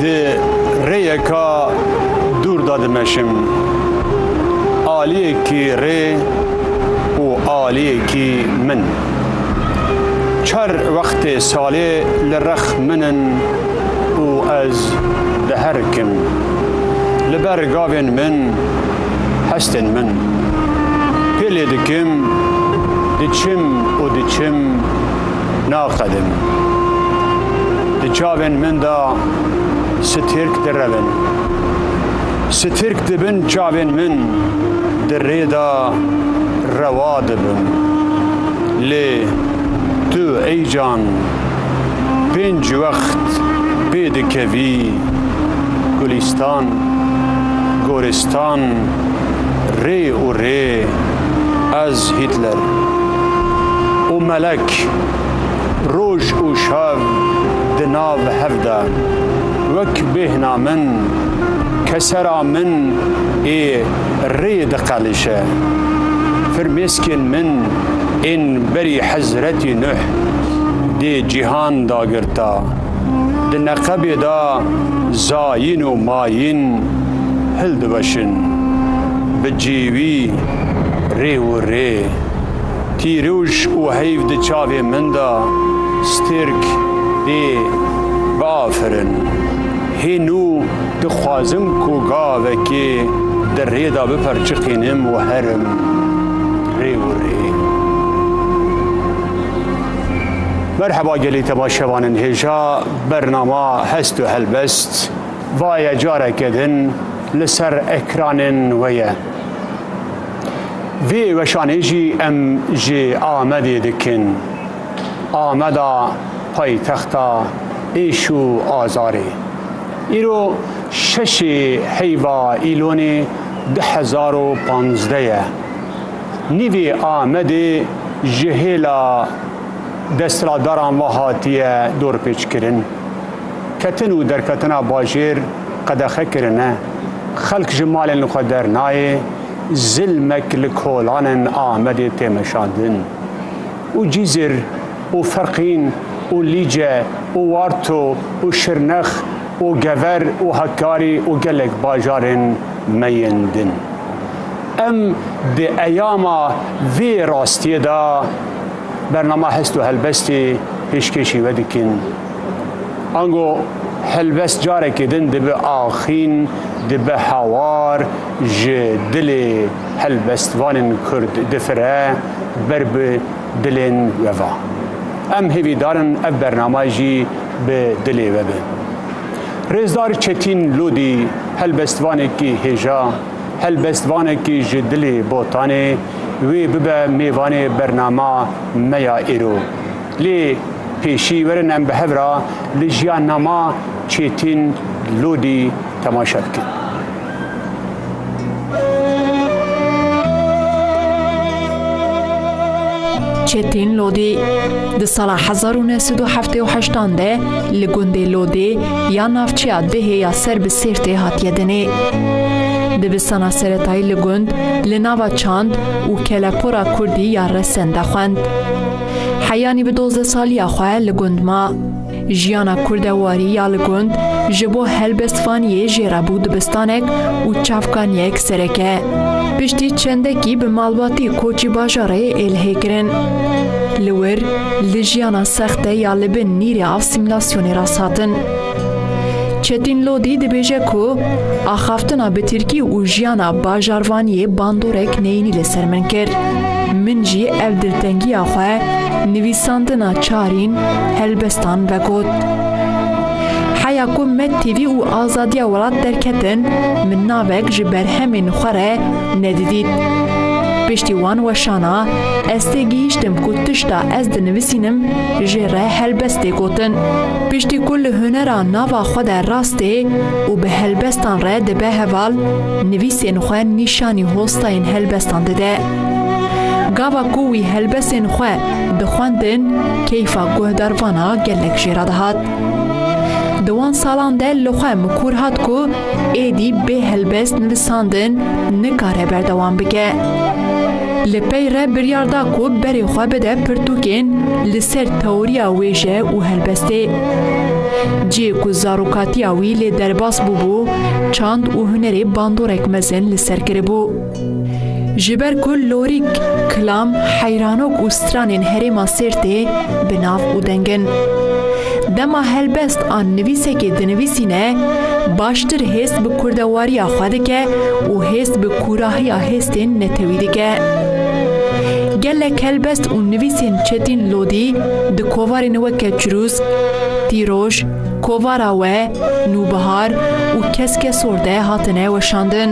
Di rêyeka dûr de dimeşim. Aliyekî rê û aliyekî min. Çar wextê salê li rex min in û ez diherkim. Li ber gavên min Hestên min pê lê dikim, diçim û diçim naqedin. Di çavên min de stirk direvin. Stirk di bin çavên min di rê de rewa dibin. Lê tu ey can pênc wext pê dikevî. Gulîstan, Goristan, Rê û Rê, Ez Hitler û Melek roj û şev di nav hev de wek bêhna min, kesera min ê rê diqelişe. Firmêskên min ên berî Hezretî Nuh dê cîhan dagirta. di neqebê de zayîn û mayîn hildiweşin, bi cêwî rê û rê. Tîrûj û heyv di çavê min de stêrk dê biafirin. Hênû dixwazim ku gavekê di rê de biperçiqînim û herim rê û rê. Merheba gelê te baş şevan in hêja bernama hest û helbest vaye careke din li ser ekranên we ye. Vê weşanê jî em ji Amedê dikin. Ameda paytexta êş û azarê. Îro şeşê heyva Îlonê du hezar û panzdeh ye. Nîvê Amedê ji hêla desthilatdaran ve hatiye dorpêçkirin. Ketin û derketina bajêr qedexe kirine. Xelk ji malên xwe dernayê, zilmek li kolanên Amedê tê meşandin. Û Cîzir û Ferqîn û Lîce û Warto û Şirnex û Gever û Hakkari û gelek bajarên me yên din. Em di eyama vê rastiyê de bernama Hest û Helbestê pêşkêşî we dikin. Ango helbest carekê din dibe axîn, dibe hawar, ji dilê helbestvanên Kurd difire ber bi dilên we ve. Em hêvî darin ev bernama jî bi dilê we be. Rêzdar Çetîn Lodî helbestvanekî hêja. Helbestvanekî ji dilê Botanê wê bibe mêvanê bernama me ya îro. Lê pêşî werin em bi hev ra li jiyannama Çêtîn Lodî temaşe bikin. Çêtîn Lodî di sala hezar û neh sed û heftê û heştan de li gundê Lodê Ya navçeya Dihê ya ser bi Sêrtê hatiye dinê. Dibistana seretayî li gund, li nava çand û kelepora kurdî ya Resen de xwend. Heyanî bi dozdeh saliya xwe li gund ma. Jiyana kurde warî ya li gund ji bo helbestvaniyê jê re bû dibistanek û çavkaniyek sereke. Piştî çendekî bi malbatê koçî bajarê Êlihê kirin. Li wir Li jiyana sext de ya li bin nîrê asîmîlasyonê rasthatin. Çetîn Lodî dibêje ku axaftina bi tirkî û jiyana bajarvaniyê bandorek neyînî li ser min kir. Min jî ev diltengiya xwe nivîsandina çarîn helbestan vegot. Heya ku me têvî û azadiya welat derketin, min navek ji berhemên xwe re nedidît. Piştî wan weşana ez tê gihîştim ku tişta ez dinivisînim jê re helbest tê gotin. Piştî ku li hunera nava xwe de rast ê û bi helbestan re dibe heval, nivîsên xwe nîşanî hostayên helbestan dide. Gava ku wî helbesên xwe dixwendin keyfa guhdarvana gelek jê re dihat. Di wan salan de li xwe mikur hat ku êdî bê helbest nivisandin nikare berdewam bike. Li pey re biryar da ku berê xwe bide pirtûkên li ser teoriya wêje û helbestê. Cihê ku zarokatiya wî lê derbas bûbû, çand û hunerê bandorek mezin li ser kiribû. Ji ber ku lorîk, kilam, heyranok û stranên herêma Sêrtê bi nav û deng in. Dema helbest an nivîsekê dinivîsîne, baştir hêst bi kurdewariya xwe dike û hêst bi kûrahiya hêstên netewî dike. Gelek helbest û nivîsên Çetîn Lodî di kovarên weke Çirûsk, Tîroj, Kovara we, Nûbihar û Keske Sorde hatine weşandin.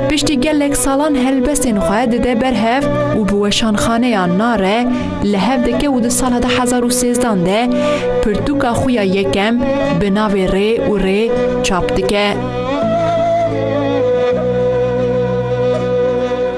Piştî gelek salan helbestên xwe dide ber hev û bi weşanxaneya Nare li hev dike û di sala du hezar û sêzdan de pirtûka xwe ya yekem bi navê Rê û Rê çap dike.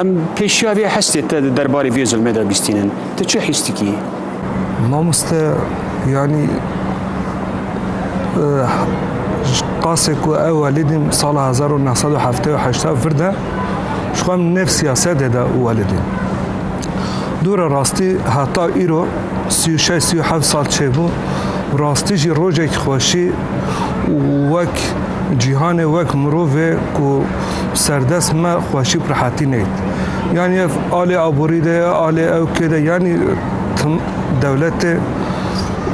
Em pêşiya vê hestê te di derbarê vê zilmê de bîstînin. Tu çi hîs dikî? Mamoste yanî qasê ku ew welîdîn sala hezar û neh sed û heftê û heşta vir de ji xwe nêv siyasetê de welîdîn. Dûra rastî heta îro sî û şeş sî û heft sal çêbû û rastî jî rojekî xweşî û wek cîhanê wek mirovê ku Serdest me xweşî û rehatî neyt. Yanî ev alê aborî de ye, alê ew kê de yanî tim dewletê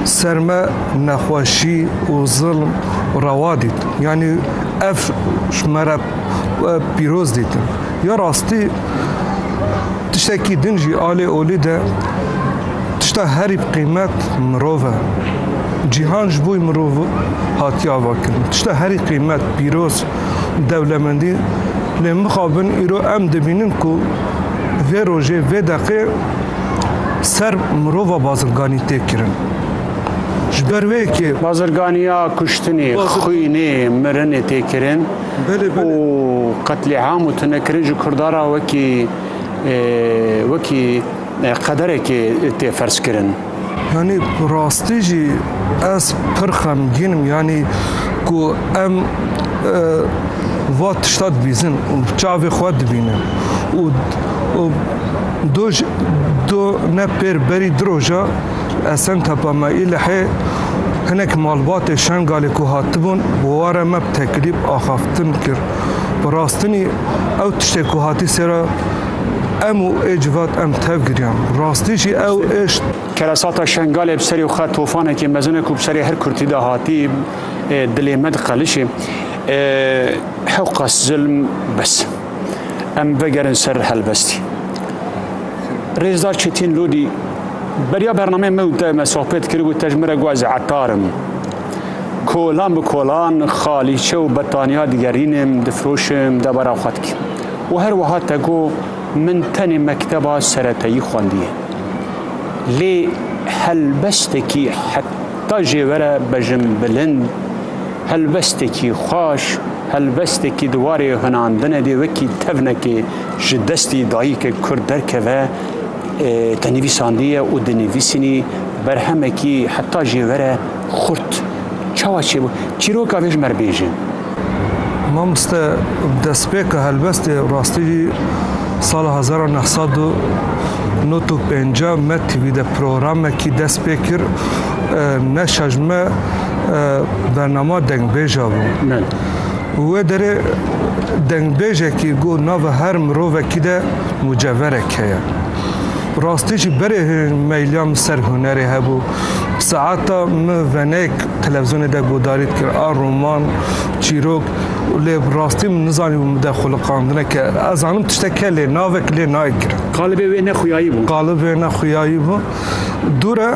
ser me nexweşî û zilm rewa dît. Yanî ev ji me re pîroz dîtin. Ya rastî tiştekî din jî alê olî de tişta herî bi qîmet mirov e. Cîhan ji bo mirov hatiye avakirin. Tişta herî qîmet pîroz dewlemendî lê mixabin îro em dibînin ku vê rojê vê deqê ser mirova bazirganî tê kirin. Ji ber wê yekê Bazirganiya kuştinê, xwînê, mirinê tê kirin û qetlîam û tunekirin ji Kurda re wekî wekî Qederekê tê ferzkirin. Yanî bi rastî jî ez pir xemgîn im yanî ku em va tişta dibîzin û çavê xwe dibînin û û do ji do ne pêr berî du roja li Esen Tepa me Îlihê hinek malbatê Şengalê ku hatibûn bi ware me bi teklîf axaftin kir. Bi rastinî ew tiştê ku hatî sêra Em û ê civat em tev giriyan. Rastî jî ew êşt. Keresata Şengalê bi serî xwe tofanekî mezin e ku bi serê her Kurtî de hatî ê dilê me diqelişê. Hewqas zilm bes. Em vegerin ser helbestî. Rêzdar Çetîn Lodî beriya bernameyê me û te me sohbet kir û te ji min re got ez etar im. Kolan bi kolan xalîçe û betaniya digerînim, difiroşim, debara xwe dikim. Û her wiha te got, Min tenê mekteba seretayî xwendiye. Lê helbestekî heta jê were bejim bilind, helbestekî xweş, helbestekî di warê hunandine de wekî tevnekê ji destê dayîkek kurd derkeve te nivîsandiye û dinivîsînî berhemekî heta jê were Xurt. Çawa çêbû? Çîroka vê ji me re bêjin. Mamoste bi destpêka helbestê rastî jî sala hezar û neh sed û nod û pênca me TV de programekî dest pê kir. Neşa ji me bernama dengbêja bû. Wê derê dengbêjekî got nava her mirovekî de muceverek heye. Rastî jî berê hêj meyliya min ser hunerê hebû. Saeta min venek televîzyonê de guhdarî dikir a roman, çîrok û lê bi rastî min nizanîbû min de xwiliqandine ke ez zanim tiştek heye lê navek lê nayê kirin. Qalibê wê ne xuyayî bû. Qalibê wê ne xuyayî bû. Dûr e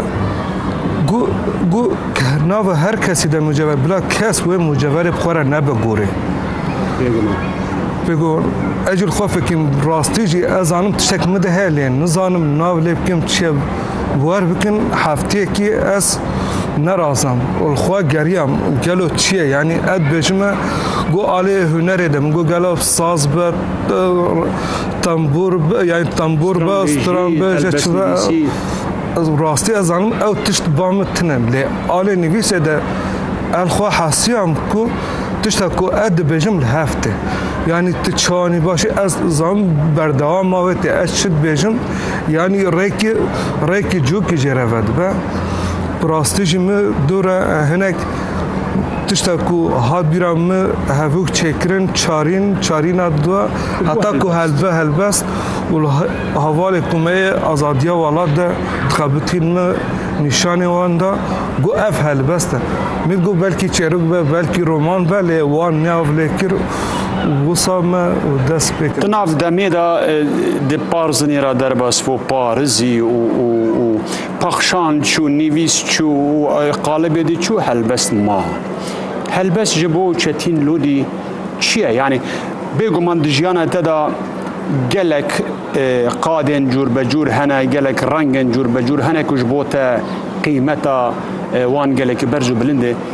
ku ku nava her kesî de mucevher bila kes wê mucevherê bi xwe re nebe gorê. Bêguman. Bêguman. Ez jî li xwe fikirîm rastî jî ez zanim tiştek min de heye lê nizanim nav lê bikim çi ye Bûwer bikin hefteyekî ez nerazam û li xwe geriyam gelo çi ye yanî ev dibêjim me got alê hunerê de min got gelo saz be tembûr be yanî tembûr be stran be ji çi be ez rastî ez zanim ew tişt ba min tune lê alê nivîsê de ev xwe hesiyam ku tişta ku ez dibêjim li hev tê yanî tu çi anî başî ez zanim berdewama wê tê ez çi dibêjim Yanî rêkê rêkê cokê jê re vedibe. Bi rastî jî min dû re hinek tişta ku hat bîra min hevûk çêkirin çarîn çarîna dua heta ku helbe helbest û hevalê ku me yê azadiya welat de dixebitîn min nîşanê wan da got ev helbest e. Min got belkî çêrok be belkî roman be lê wan neav lê kir Wisa me dest pê kir. Di nav demê de di parzinê re derbas bo parizî û pexşan çû, nivîs çû û qalibê dî çû helbest ma. Helbest ji bo Çetîn Lodî çi ye? Yanî bêguman di jiyana te de gelek qadên cûrbecûr hene, gelek rengên cûrbecûr hene ku ji bo te qîmeta wan gelekî berz û bilind e.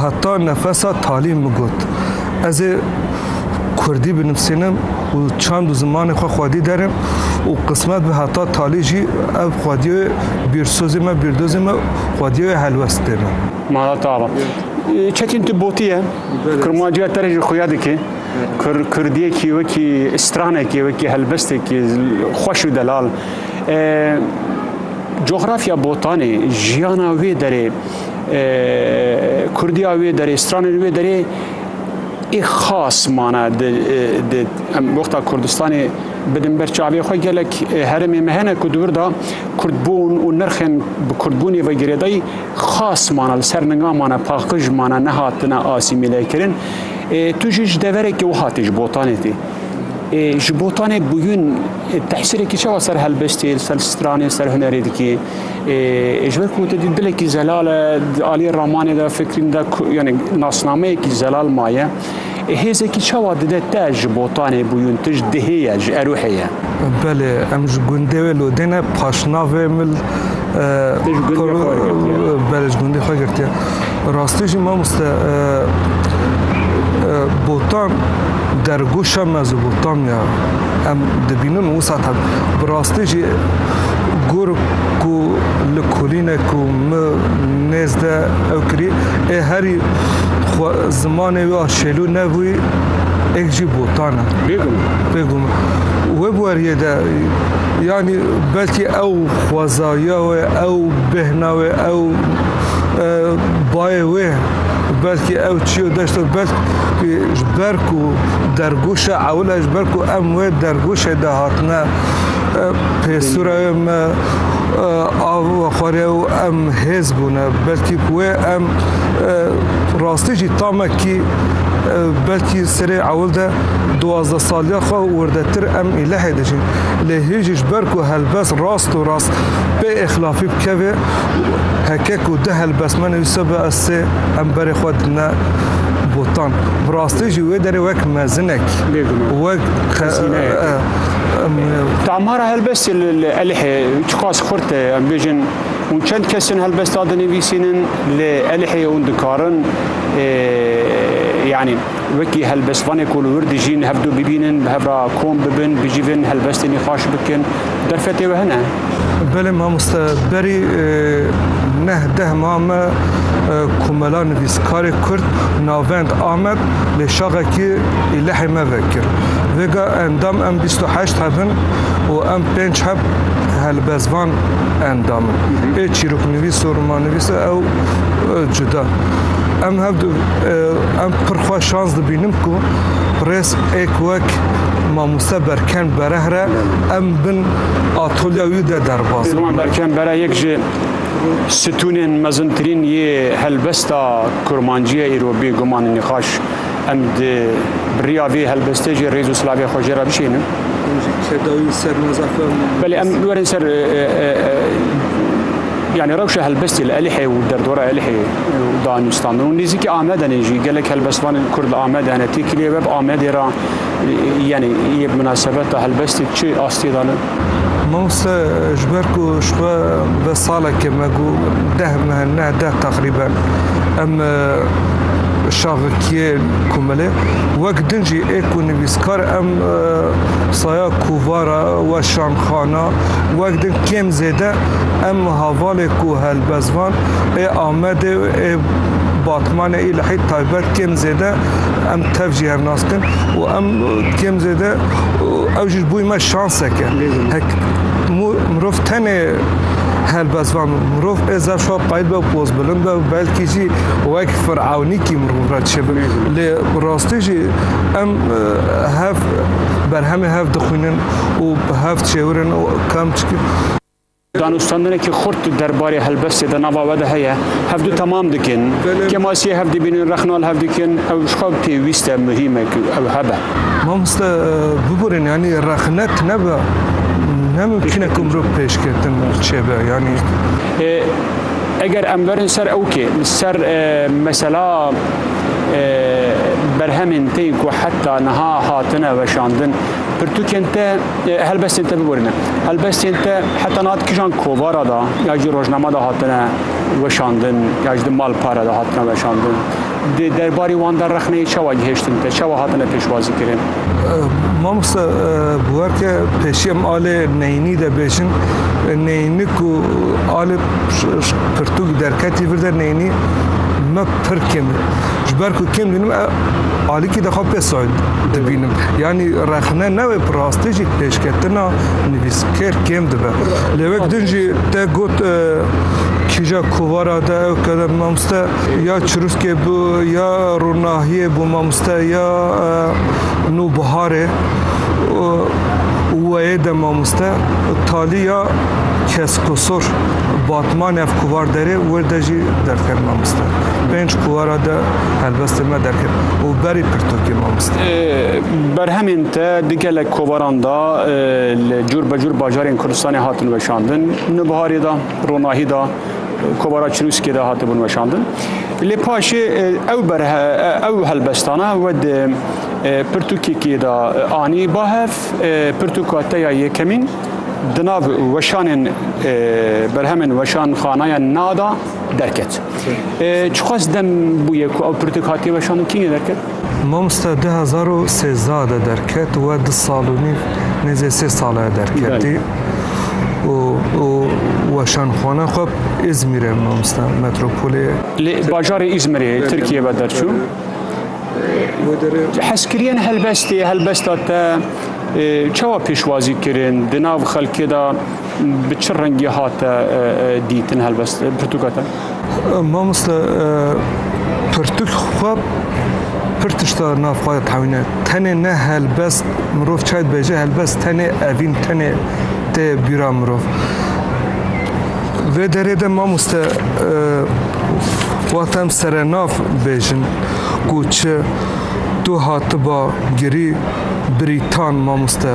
Heta nefesa talî min got, ez ê kurdî binivîsînim û çand û zimanê xwe xwedî derim û qismet be heta talî jî ev xwedîyê bîrsozê me, bîrdozê me xwedîyê helwestê me. Mala Tava. Çetîn tu botiye, kurmanciya te re jî xuya dike. Kur kurdiyekî wekî stranekî, wekî helbestekî xweş û delal. Coxrafya botanê, jiyana wê derê. Kurdiya wê derê, stranên wê derê ê xas mana em wexta Kurdistanê bidin ber çavê xwe gelek heremê me hene ku dibir da Kurdbûn û nirxên bi Kurdbûnê ve girêdayî xas mana li ser ninga mana paqij mana nehatine asîmîle kirin. Tu jî ji deverekê wiha tê ji botanê tê. Ji botanê bûyûn tehsîrekî çawa ser helbestê, ser stranê, ser hunerê dikê. Ji ber ku te dî dilekî zelal e, di aliyê ramanê de fikrîn de yani nasnameyekî zelal maye. Hêzekî çawa dide te ji botanê bûyûn tij dihê ye, ji erûhê ye. Belê, em ji gundê wê lodêne paşnavê mil. Te ji gundê xwe girtiye. Belê, ji gundê xwe girtiye. Bi rastî jî mamoste botan dergoşa Mezopotamiya em dibînin û wisa tevî. Bi rastî jî gor ku li kolînek ku min nêz de ew kirî ê herî xwe zimanê wî a şêlû nebûyî êk jî botan e. Bêguman. Bêguman. Wê weriyê de yanî belkî ew xwezayiya wê, ew bêhna wê, ew Bayê wê belkî ew çiyo deşto belk ki ji ber ku dergûşa ewle ji ber ku em wê dergûşê de hatine pêsura wê me av xwarê û em hêz bûne belkî ku wê em rastî jî tamekî belkî serê ewil de duwazdeh saliya xwe wirdetir em îlehê dijîn lê hêjî ji ber ku helbest rast û rast pê êxilafî bikevê got, Heke ku du helbest me nivîse bi ez sê em berê xwe dine botan. Bi rastî jî wê derê wek mezinek wek Damara helbestê li li Elihê çiqas xurt e em bêjin hûn çend kes in helbesta dinivîsînin li Elihê hûn dikarin yanî wekî helbestvanê ku li wir dijîn hevdu bibînin bi hev re kom bibin bijîvin helbestê nîxaş bikin derfetê we hene. Belê mamoste berî neh deh ma me komela nivîskarê Kurd Navend Amed lê şaxekî îlehê me vekir. Vêga endam em bîst û heşt heb in û em pênc heb helbestvan endam in. Ê çîroknivîs û romanivîs e ew cuda. Em hev em pir xwe şans dibînim ku rêz êk wek mamoste Berken Berehre em bin atolya wî de derbas. Sîlwan Berkem bera yek ji stûnên mezintirîn yê helbesta kurmancîye îro bê guman û nîqaş em di biriya vê helbestê jî rêz û silavê xwe jê re bişênin. Belê em werin ser yani rewşa helbestê li Elihê û derdora Elihê û danûstandan û nêzîkî Amedenê jî gelek helbestvanên Kurd li Amedê hene têkilê web Amedê re Yanî yê bi minasebeta helbestê çi astiyê dane? Mawse ji ber ku ji xwe ve saleke me got deh meh ne deh teqrîben em şaxikiyê komilê wek din jî ê ku nivîskar em saya kovara weşanxana wek din kêm zêde em havalê ku helbestvan ê Amedê ê Batmanê î li hît taybet kêm zêde em tev jî hev nas dikin û em kêm zêde ew jî bûyî me şanseke hek mirov tenê helbestvan mirov ê zaf şo qayît be pozbilind be belkî jî wek firewnîkî mirov re çêbin lê rastî jî em hev berhemê hev dixwînin û bi hev çêwirin û kam çikin Danûstandinekî xurt di derbarê helbestê de nava we de heye. Hevdu temam dikin. Kemasiyê hev dibînin, rexnal hev dikin. Ew ji xwe pêwîst e, muhîm e ku ew hebe. Mamoste biborîn yanî rexnet nebe ne mumkîn e ku mirov pêşketin çêbe yanî. Eger em berin ser ew kê li ser mesela berhemên tên ku heta niha hatine weşandin pirtûkên te, Helbestên te biborîne. Helbestên te heta nihat kijan kovara da ya jî rojnama da hatine weşandin ya jî di malpare da hatine weşandin. Di derbarî wan de rexneyê çawa gihêştin te, çawa hatine pêşwazîkirin? Mamosta bi wer ke pêşî em alê neyînî de bêjin, neyînî ku alê pirtûk derketî vir de neyînî me pir kêm e. Ji ber ku kêm bînim e alîkî de xwe pê soyl dibînim. Yanî rexne ne wê bi rastî jî pêşketina nivîskêr kêm dibe. Lê wek din jî te got e, kîja kovara de ew kede mamoste ya çirûskê bû ya ronahiyê bû mamoste ya e, nûbiharê weyê de mamoste talî ya keskosor batman ev kovar derê wê de jî derker mamoste. Pênc kuwara de helbestê me derket û berî pirtûkê me wist. Berhemên te di gelek kovaran de li cûr be cûr bajarên Kurdistanê hatin weşandin. Nubiharê de, ronahî de, kovara Çirûskê de hatibûn weşandin. Lê paşê ew berhe ew helbestana we di pirtûkekê de anî ba hev, pirtûka te ya yekemîn di nav weşanên berhemên weşanxanaya na de Derket. Çiqas dem bûye ku ew pirtik hatiye weşandin kî ne derket? Mamoste du hezar û sêzdeh de derket we du sal û nîv nêzê sê sal e derketî û û weşanxwana xwe Îzmîr e mamoste metropolê. Li bajarê Îzmirê Tirkiyê ve derçû. Hezkiriyên helbestê helbesta te çawa pêşwazî kirin di nav xelkê de Bi çi rengî hate dîtin helbest pirtûka te? Mamoste pirtûk xwe pir tişta nav xwe tewîne. Tenê ne helbest mirov çay dibêje, helbest tenê evîn, tenê tê bîra mirov. Vê derê de mamoste wexta em serenav bêjin ku çi tu hatiba girî birî tan mamoste.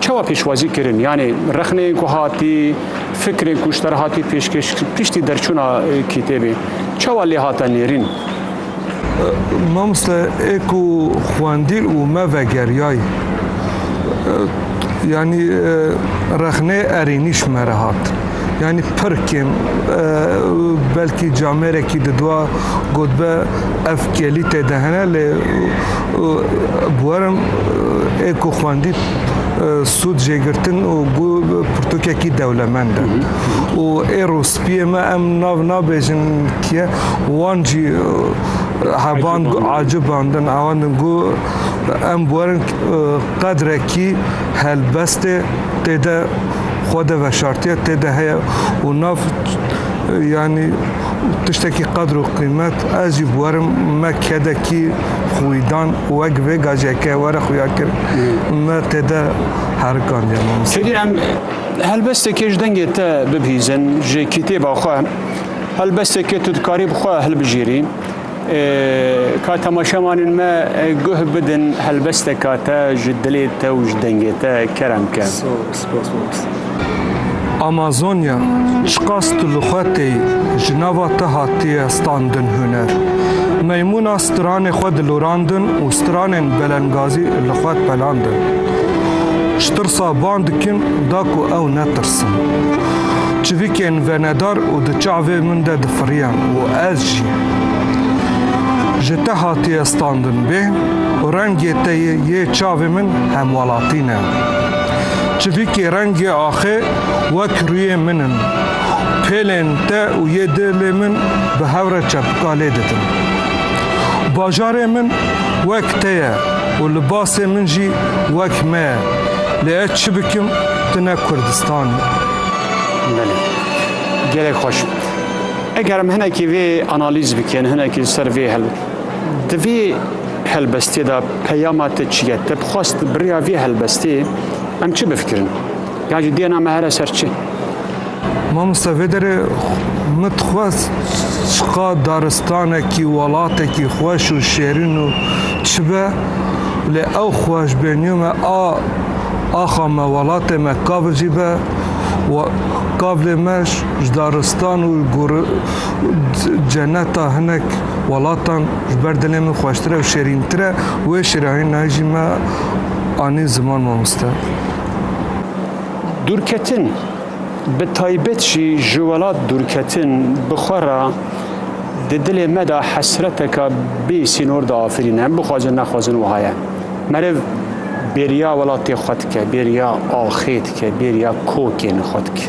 Çawa pêşwazî kirin? Yanî rexneyên ku hatî, fikrên ku ji te re hatî pêşkêş piştî derçûna kîtêbê çawa lê hate nêrîn? Mamoste ê ku xwendî û me vegeriyay yanî rexneyê erênî ji me re hat. Yani pir kêm belkî camêrekî didwa gotbe ev kelî tê de hene lê Buerim ê ku xwendî sûd jê girtin û ku pirtûkekî dewlemend e. Û ê rûspiyê me em nav nabêjin kiye wan jî heband acibandin awendin ku em buerin qedrekî helbestê tê de xwe de veşartiye tê de heye û nav yanî tiştekî qedr û qîmet ez jî buerim me kedekî xwî dan û wek vê gajeke were xuya kir me tê de herikandiye mamoste. Fêdî em helbestekê ji dengê te bibihîzin ji kîtêba xwe helbestekê tu dikarî bi xwe hilbijêrî ka temaşemanên me guh bidin helbesteka te ji dilê te û ji dengê te kerem ke. Amazonya, çiqas tu li xwe tê yî, ji nava te hatiye standin huner. Meymûna stranê xwe dilorandin û stranên belengazî li xwe pelandin. Ji tirsa van dikin da ku ew netirsin. Çivîkên venedar û di çavê min de difiriyan û ez jî. Ji te hatiye standin bê û rengê te yê çavê min hemwelatî ne. Çivîkê rengê axê wek rûyê min in. Pêlên te û yê dilê min bi hev re çepika lê dikin. Bajarê min wek te ye û libasê min jî wek me ye. Lê ez çi bikim tu ne Kurdistan î. Belê. Gelek xweş. Eger em hinekî vê analîz bikin, hinekî li ser vê Di vê helbestiyê de peyama te çi ye? Te bi xwest bi riya vê helbestê em çi bifikirin? Yan jî diyena me here ser çi? Mamosta vê derê min dixwest çiqa daristanekî, welatekî xweş û şêrîn û çi be lê ew xweşbêniyo me a axa me, welatê me kav jî be we kav lê me ji daristan û ceneta hinek welatan ji ber dilê min xweştir e û şêrîntir e û wê şêrînayî nayê jî me anî ziman mamoste. Dûrketin bi taybet jî ji welat dûrketin bi xwe re di dilê me de hesreteka bê sînor de afirîne. Em bixwazin nexwazin wiha ye. Meriv bêriya welatê xwe dike, bêriya axê dike, bêriya kokên xwe dike.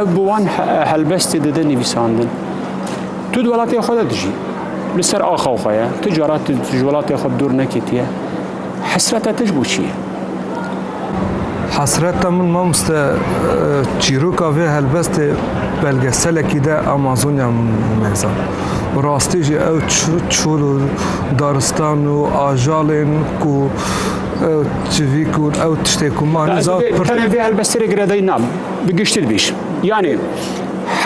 Ev bi wan helbestê dide nivîsandin. Tu di welatê xwe de dijî. Li ser axa xwe ye. Ti cara tu ji welatê xwe dûr neketiye. Hesreta te ji bo çi ye? Hesreta min mamoste çîroka vê helbestê belgeselekî de Amazonya meza. Rastî jî ew çol û daristan û ajalên ku civîk û ew tiştê ku man. Tenê vê helbestê re girêdayî nam. Bi giştir bîr. Yanî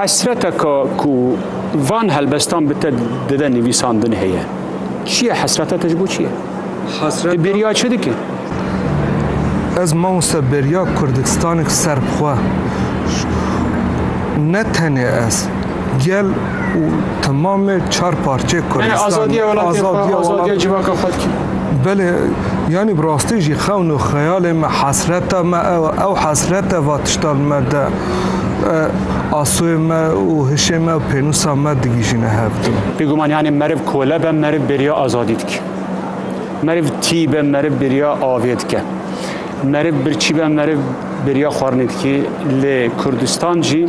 hesreteka ku van helbestan bi te dide nivîsandin heye. Çi ye hesreta te ji bo çi ye? Hesret. Tu bêriya çi dike? Ez mamoste bêriya Kurdistanek serb xwe. Ne tenê ez. Gel û temamê çar parçeyê Kurdistan. Azadiya welatê xwe, azadiya civaka xwe dikî. Belê, yanî bi rastî jî xewn û xeyalê me, hesreta me ew e. Ew hesret e va tişta li me de asoyê me û hişê me û pênûsa me digihîjîne hev dû. Bêguman yanî meriv kole be, meriv bêriya azadî dike. Meriv tî be, meriv bêriya avê dike. Meriv birçî be, meriv bêriya xwarinê dikê. Lê Kurdistan jî.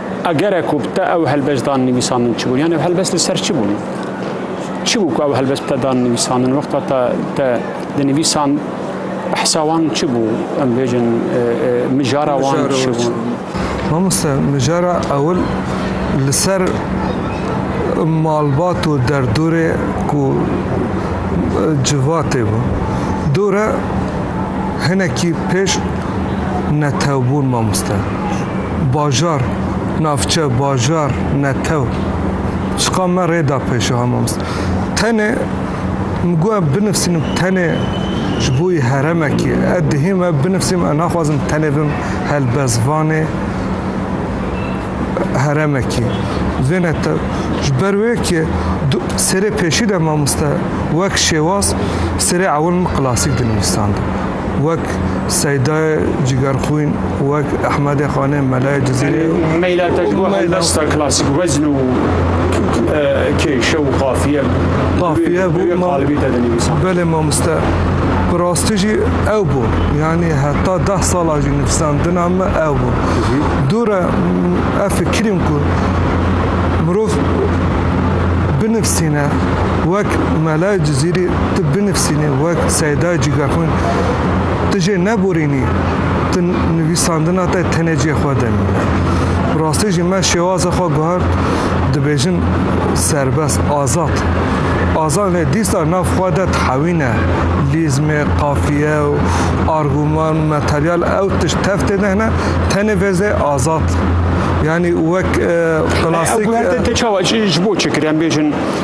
A gere ku bi te ew helbest dan nivîsandin çi bû? Yan ev helbest li ser çi bû? Çi bû ku ew helbest bi te dan nivîsandin? Wexta te te dinivîsand behsa wan çi bû? Em bêjin e, e, mijara wan Mijara çi wan çi bû? bû? Mamoste mijara ewil li ser malbat û derdorê ku e, civatê bû. Dore hinekî pêş netewbûn mamoste. bajar, navçe, bajar, netew, çiqa me rê da pêşiha mamosta. Tenê min got em binivîsim tenê ji bo yê heremekê, ez dihê me binivîsim, ez naxwazim tenê bim helbestvanê heremekê. Vêne te ji ber wê ke du serê pêşî de mamosta wek şêwaz serê ewil min klasîk dinivîsand. wek Seydayê Cîgerxwîn, wek Ehmedê Xanê Melayê Cizîrê û Meyla Tecgû helbesta klasîk wezn û kêşe û qafiye qafiye bû qalibî te dinivîsan. Belê mamoste bi rastî jî ew bû. Yanî heta deh sala jî nivîsandina min ew bû. Dû re ev fikirîm ku mirov binivîsîne wek Melayê Cizîrî tu Sînê wek seyda cîga xwe tu jê neborînî, tu nivîsandina te tenê cê xwe de mîne. Bi rastî jî me şêwaza xwe guhert dibêjin serbest, azad. Azad lê dîsta nav xwe de dihewîne. Lîzmê, qafiye û arguman, materyal ew tişt tev tê de hene, tenê vêzê azad. Yanî wek plastik. Ew guhertin te çawa ji bo çi kir? Em bêjin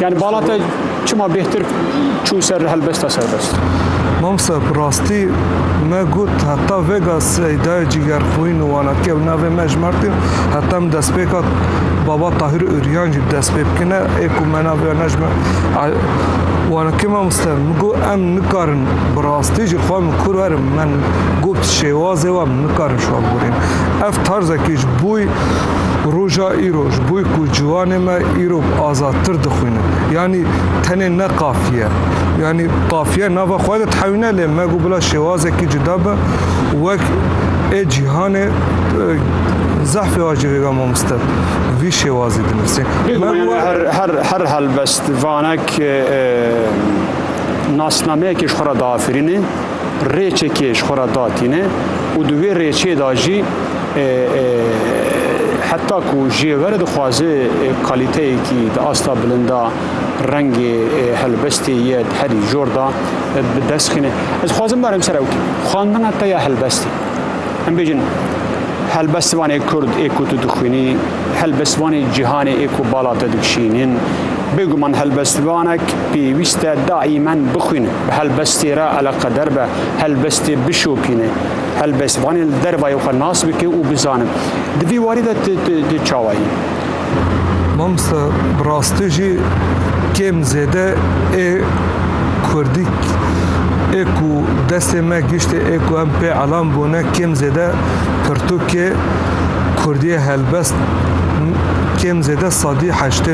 Yani bala te çima bêhtir çû ser li helbesta serbest? Mamsa bi rastî me got heta vega seydayê cîgerxwîn û wanatî ew navê me ji Mertîn heta min destpêka baba Tahir Ûryan jî dest pê bikine ê ku me navê ne ji me wanakê mamoste min got em nikarin bi rastî ji xwe min kur werin min got şêwazê wan nikarin ji wan borîn. Ev tarzekî ji boî Roja îro ji bo ku ciwanê me îro azadtir dixwînin. Yanî tenê ne qafiye. Yanî qafiye nava xwe de thewîne lê me got bila şêwazekî cuda be wek ê cîhanê zehfê wa jî rêga mamoste vî şêwazî dinivîsê. Her her helbest vanek nasnameyekê ji xwe re diafirînê. rêçekê ji xwe re datîne û di wê rêçê de jî heta ku jê were dixwaze kalîteyekî di asta bilinda rengê helbestê ye di herî jor de bi dest xîne. Ez xwazim barem ser ew xandina te ya helbestê. Em bêjin helbestivanê Kurd ê ku tu dixwînî, helbestivanê cîhanê ê ku bala te dikişînin, bêguman helbestivanek Pêwîst e daîmen bixwînin. Bi helbestê re eleqeder be, helbestê bişopîne, helbestvanê li dervayê xwe nas bike û bizane. Di vî warî de tu çawa yî? Mamosta bi rastî jî kêm zêde ê Kurdî ê ku destê me giştê ê ku em pê elam bûne kêm zêde pirtûkê Kurdiyê helbest kêm zêde sedî heştê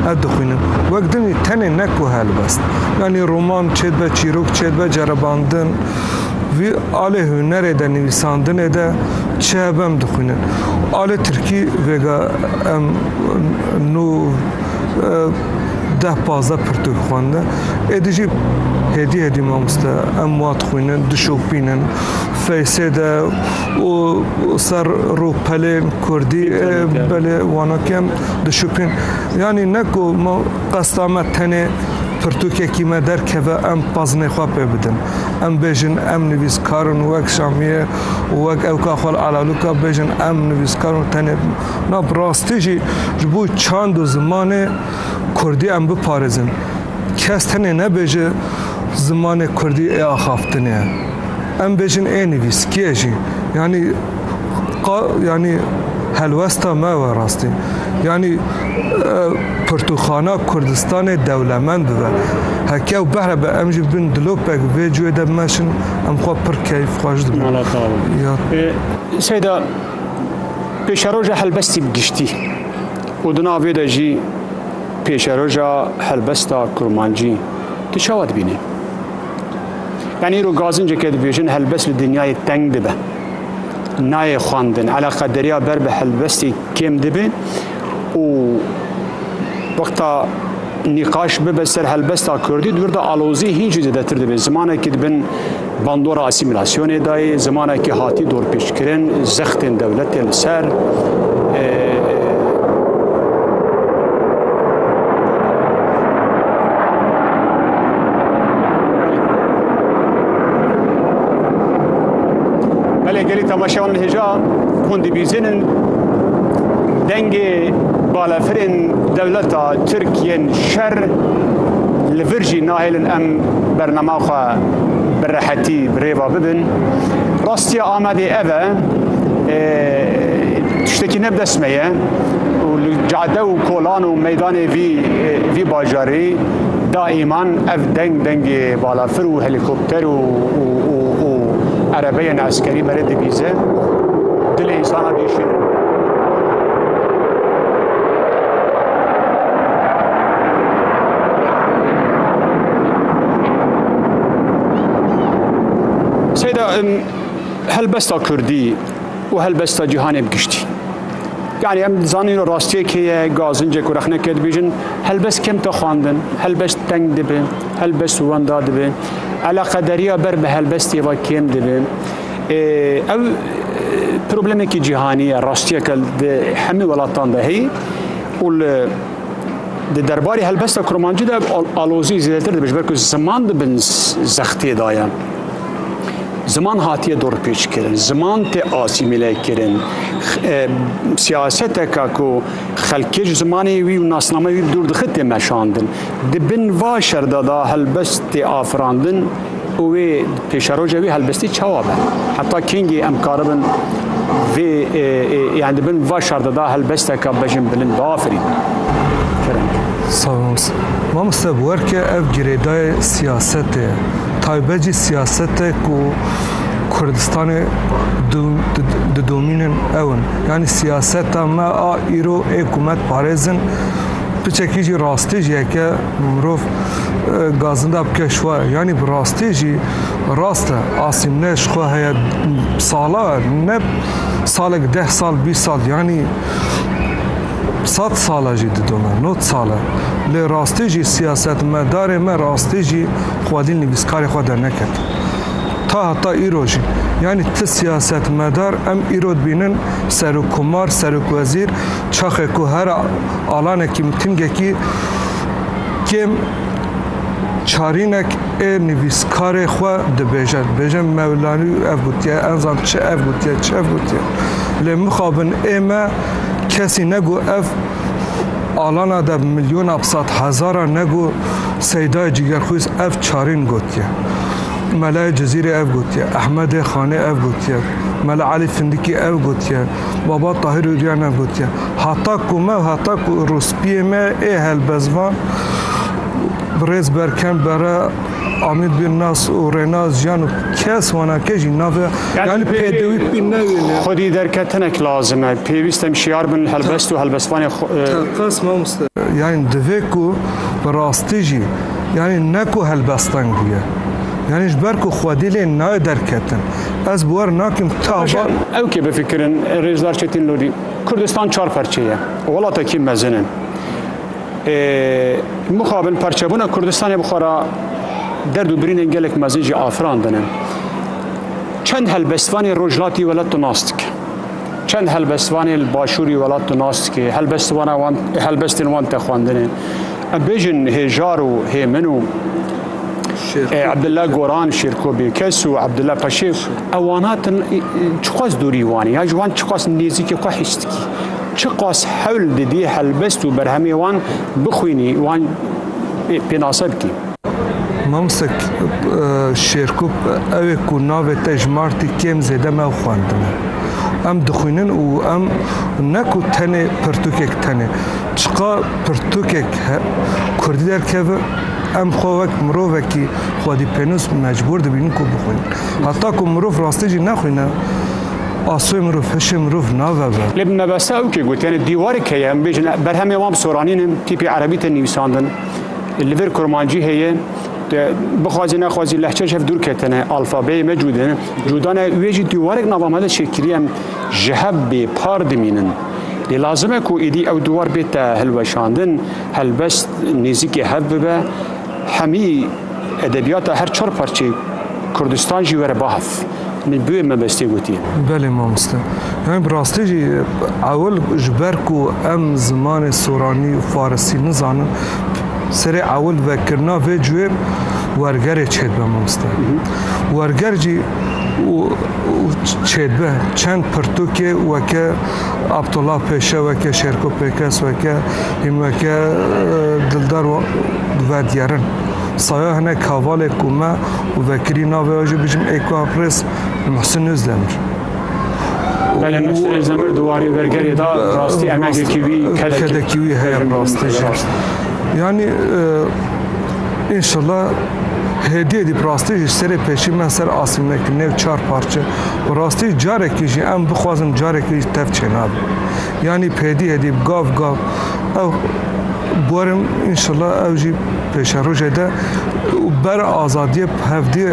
ev dixwînin. Wek dimî tenê ne ku helbest, yanî roman çê dibe, çîrok çê dibe, cerebandin vî alê hunerê de, nivîsandinê de çi hebe em dixwînin. Alê tirkî vêga em nû deh pazdeh pirtûk xwendin. Êdî jî hêdî hêdî mamoste em wa dixwînin, dişopînin feysê de û ser rûpelên kurdî belê wanakî em dişopîn. Yanî ne ku me qesta me tenê pirtûkekî me derkeve em pazinê xwe pê bidin. Em bêjin em nivîskar in wek Şamiyê û wek Ewka Xwal Alalûka bêjin em nivîskar in tenê na bi rastî jî ji bo çand û zimanê Kurdî em biparêzin. Kes tenê nebêje zimanê Kurdî ê axaftinê ye. Em bêjin ê nivîskiyê jî yanî. qa yanî helwesta me we rastî. Yanî e, pirtûxana Kurdistanê dewlemend bibe. Heke ew behrebe em jî bin dilopek vê cuyê de meşin em xwe pir keyf xwe ji dibin. Seyda pêşeroja helbestî bi giştî û di navê de jî pêşeroja helbesta kurmancî tu çawa dibînî? Yani îro gazinceke dibêjin helbest li dinyayê teng dibe. nayê xwendin eleqa deriya ber bi helbestî kêm dibe û wexta nîqaş bibe ser helbesta kurdî dibir da alozî hîn jî zêdetir dibe zimanekî dibin bandora asîmîlasyonê dayê zimanekî hatî dorpêçkirin zextên dewletê li ser Belê gelî temaşeya wan dihêja hûn dibîzinin dengê balafirên dewleta Tirkiyên şer li vir jî nahêlin em bernama xwe bi rehetî bi rêva bibin. Rastiya Amedê ev e tiştekî ne bi dest me ye û li cade û kolan û meydanê vî vî bajarî daîman ev deng dengê balafir û helîkopter û û û erebeyên eskerî me rê dibîze dilê însana dîşîne. Seyda helbesta Kurdî û helbesta cîhanê bi giştî. Yani em zanîn rastiyê kê ye gazincê ku rexne kê dibêjin helbest kemta xwandin, helbest teng dibe, helbest wenda dibe. eleqederiya ber bi helbestê ve kêm dibe. Ew problemekî cîhanî ye, rastiyeke di hemî welatan de heye û li di derbarê helbesta kurmancî de alozî zêdetir dibe ji ber ku ziman di bin zextê de ye. Ziman hatiye dorpêç kirin, ziman tê asîmîle kirin. Siyaseteka ku xelkê ji zimanê wî û nasname wî dûr dixit tê meşandin. Di bin va şerda da helbest tê afirandin û wê pêşeroja wî helbestî çawa be? Heta kengî em karibin vê yan di bin va şerda da helbesteka bejin bilind biafirîn? Sağolunuz. Mamoste bu erke ev girêdayê siyasetê ye. Taybet jî siyasete ku Kurdistanê didomînin ew in. Yanî siyaseta me a îro ê ku me diparêzin Piçekî jî rastî jî heke mirov gazinda bike şwa yanî bi rastî jî rast e. Asîm ne ji xwe heye sala ne salek deh sal bîst sal yanî sed sala jî didome not sal e. Lê rastî jî siyasetmedarê me rastî jî xwedî nivîskarê xwe derneket. Ta heta îro jî yanî ti siyasetmedar em îro dibînin serokkomar, serokwezîr, Çaxê ku her alanekî mitingekî kêm çarînek ê nivîskarê xwe dibêje. Dibêje Mewlanî ev gotiye, ez zan çi ev gotiye, çi ev gotiye. Lê mixabin ê me kesî negu ev alana de milyona bisat hezara negu Seydayê Cîgerxwîz ev çarîn gotiye. Melayê Cizîrê ev gotiye, Ehmedê Xanê ev gotiye, Mela Elî Findikî ev gotiye. Baba Tahir Ûryanan gotiye, Heta ku me û heta ku rûspiyê me ê helbestvan birêz Berkem Bere, Amîd bin Nas û Rênaz Jiyan û kes wana ke jî navê yanî pêdivî pî newîne. Xwedî derketinek lazim e. Pêwîst em şiyar bin li helbest û helbestvanê Teqas mamoste. Yanî divê ku bi rastî jî yanî ne ku helbestan bûye. Yanî ji ber ku xwedî lê nayê derketin. Ez bi wer nakim tu ava. Ew kê bifikirin Rêzdar Çetin Lodî. Kurdistan çar parçe ye. Welatekî mezin in. Mixabin parçebûna Kurdistanê bi xwe re derd û birînên gelek mezin jî afirandine. Çend helbestvanê rojhilatî welat tu nas dike. Çend helbestvanê li başûrî welat tu nas dike. Helbestvana wan helbestên wan te xwendine. Em bêjin hêjar û hêmin û e, Abdullah Goran Şêrko Bêkes û Abdullah Paşê ew wan hatin çiqas dûrî wanê ya ji wan çiqas nêzîkê xwe hîs dikî. Çiqas hewl didî helbest û berhemê wan bixwînî wan e, pênase bikî. Mamoste Şêrko ew ê ku navê te ji Martî kêm zêde me ew xwendine. Em dixwînin û em ne ku tenê pirtûkek tenê Çiqa pirtûkek kurdî derkeve, em xwe wek mirovekî xwedîpênûs mecbûr dibînin ku bixwînin. Heta ku mirov rastî jî nexwîne, asoyê mirov, hişê mirov naveve. Lê bi mebesta ew ke gotiye dîwarek heye, em bêjin berhemê wan bi soranînin, tîpî erebî tên nivîsandin, li vir kurmancî heye, tu bixwazî nexwazî lehçe ji hev dûr ketine, alfabeyê me cû dine, cû dane, wê jî dîwarek nava me de çêkirî em, Ji hev bê par dimînin. Lê lazim e ku êdî ew diwar bête hilweşandin, helbest nêzîkê hev bibe, hemî edebiyata her çar parçeyê Kurdistan jî were bahev. Min bi wê mebestê gotiye. Belê mamoste. Yanî bi rastî jî ewil ji ber ku em zimanê soranî û farisî nizanin, serê ewil vekirina vê cuyê wergerê çêdibe mamoste. Werger jî. û çêdibe çend pirtûkê weke Abdullah Pêşe weke Şêrko Pêkes weke hîn weke Dildar verdiyerin. Saya hene kavalê ku me û vekirî navê jî bijim êko aprêz Muhsin Özdemir. Belê Muhsin Özdemir di warê vergerê de rastî emegekî wî kedekî wî heye rastî jî. Yani Înşella hêdiyê dî bi rastî ji serê pêşî me ser asîmekî nêw çar parçe bi rastî carekî jî em bixwazin carekî jî tev çênabe. Yanî pêdî hêdî bi gav gav ew guerim înşella ew jî pêşerojê de û ber azadiyê bi hev dî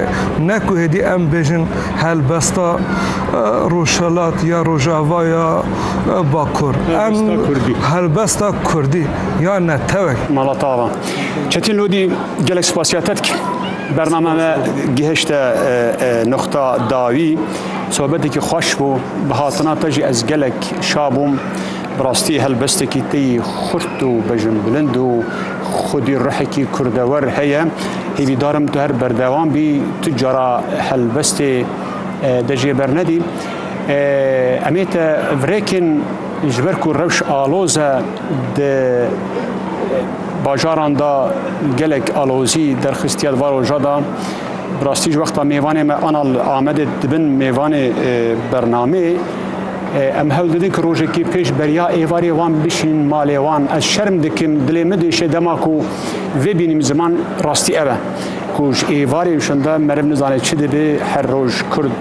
ne ku hêdî em bêjin helbesta Rojhelat ya Rojava ya Bakur. Em helbesta Kurdî ya ne tewek. Mala te ava. Çetin Lodî gelek spasiya te dikim. Bername me gihişte noxta dawî. Sohbetekî xweş bû. Bi hatina te jî ez gelek şa bûm. Bi rastî helbestekî te yî xurt û bejinbilind û xwedî ruhekî kurdewer heye. Hîvîdarim tu her berdewam bî, tu cara helbestê de jê bernedî. Em ê te virêkin ji ber ku rewş aloz e. Di bajaran de gelek alozî derxistiye di van roja de. Bi rastî ji wexta mêvanê me ana li Amedê dibin mêvanê bernameyê em hewl didin ku rojekê pêş beriya êvarê wan bişînin malê wan. Ez şerm dikim, dilê min diêşe dema ku vê bînim ziman rastî ev e ku ji êvarê şinde meriv nizane çi dibe her roj kurd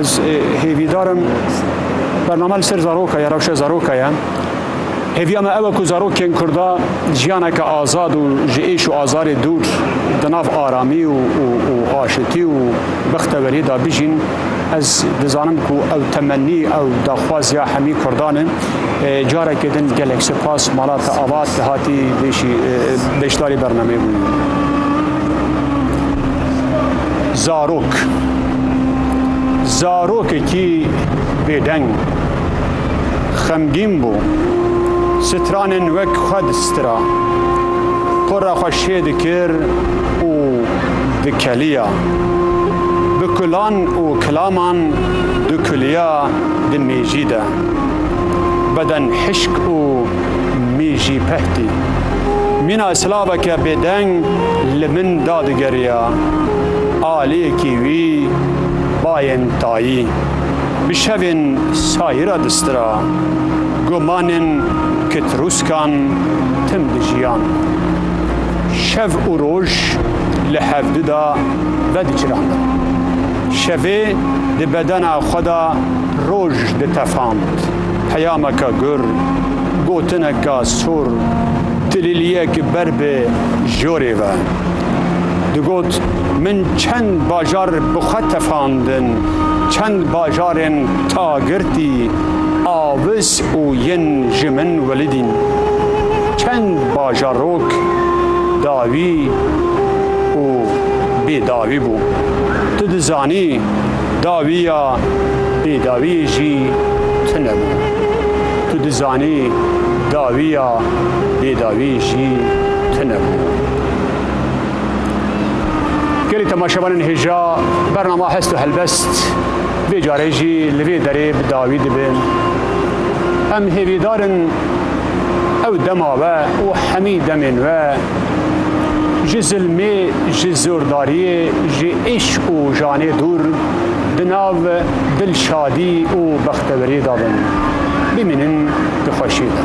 Ez hêvîdar im bername li ser zaroka ye rewşa zaroka ye. Hêviya me ew e ku zarokên Kurda jiyaneke azad û ji êş û azarê dûr di nav aramî û aşitî û bixteweriyê de bijîn. Ez dizanim ku ew temennî ew daxwaziya hemî Kurdan e. Carekê din gelek sipas mala te avat hatî beşdarî bernameyê bûyî. zarok. Zarokekî bêdeng, xemgîn bû. Stranên wek xwe distira. Qura xwe şê dikir û dikeliya. Bi kulan û kilaman dikuliya di mêjî de. Beden hişk û mî jî pehtî. mîna silaveke bêdeng li min dadigeriya. Aliyekî wî bayên tayî bi şevên sayî re distira. Gumanên kitrûskan tim dijiyan. Şev û roj li hevdu de vediçirandin. Şevê di bedena xwe de roj ditefand. Peyameke gur, gotineke sor, tilîliyek ber bi jorê ve digot, Min çend bajar bi xwe tefandin, çend bajarên ta girtî, avis û yin ji min welidîn. Çend bajarok dawî û bêdawî bû. Tu dizanî. Dawî ya bêdawiyê jî tune bû. Tu dizanî dawî ya bêdawiyê jî tune bû. Gelê temaşevanên hêja bernama hest û helbest vê carê jî li vê derê bi dawî dibin. Em hêvîdarin ew dema ve û hemî demên ve Ji zilmê, ji zordariyê, ji îşq û janê dûr di nav dilşadî û bexteweriyê de bin. Bimînin di xweşiyê de.